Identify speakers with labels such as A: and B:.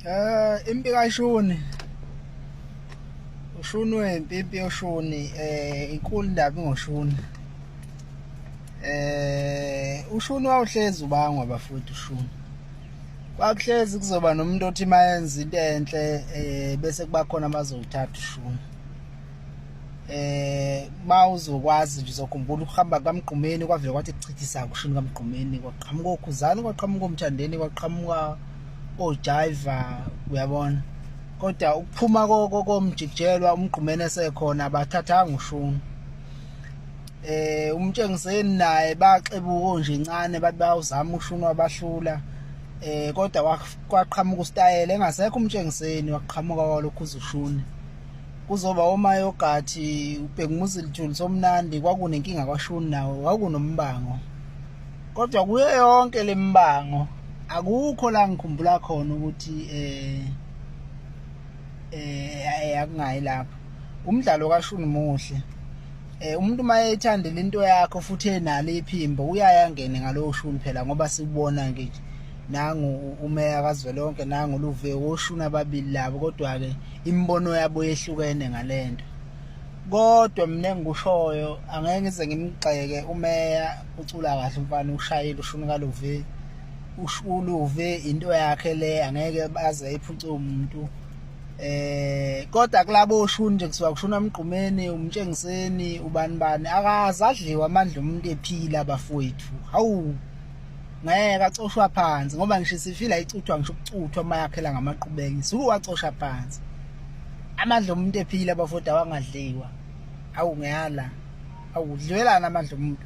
A: Eh impi kashuni. Ushuni wempi impi yoshuni eh inkulu ndaba ngoshuni. Eh ushuni wawuhlezi ubangwa bafuthi ushuni. Kwakuhlezi kuzoba nomuntu othi mayenza into enhle eh bese kuba khona bazowuthatha ushuni. eh mawuzokwazi nje uzokhumbula ukuhamba kamgqumeni kwavele kwathi kuchithisa kushini kamgqumeni kwaqhamuka okhuzani kwaqhamuka omthandeni kwaqhamuka ojiva uyabona kodwa ukuphuma komjikijelwa umgqumeni esekhona abathathanga ushuni eh umtshengiseni naye baxebuko nje incane bathi bayawuzama ushuni wabahlula eh kodwa kwaqhamuka ustayele engasekho umtshengiseni waqhamuka kwalokhu uzushuni kuzoba omayogathi ubhekumuzi lithuli somnandi kwakunenkinga kwashuni nawo wakunombango kodwa kuyo yonke le mbango akukho la ngikhumbula khona ukuthi eh eh akungayi lapho umdlalo kashuni muhle eh umuntu mayethanda into yakho futhi enalo iphimbo uyaya ngene ngalowo shuni phela ngoba sikubona nje nangu umeya kazwelonke nangu luve woshuni ababili labo kodwa ke imibono yabo yehlukene ngalento kodwa mina engikushoyo angeke ngize ngimgxeke umeya ucula kahle umfana ushayile ushuni kaluve ushuluve into yakhe le angeke baze iphuce umuntu eh kodwa kulabo oshuni nje kusuka kushona umgqumeni umtshengiseni ubani bani akazi adliwa amandla umuntu ephila bafowethu hawu ngeke acoshwa phansi ngoba ngisho sifila icuthwa ngisho ukucuthwa uma yakhela ngamaqhubeki suku wacosha phansi amandla omuntu ephila abafoti awangadliwa awu ngiyala awudliwelana amandla omuntu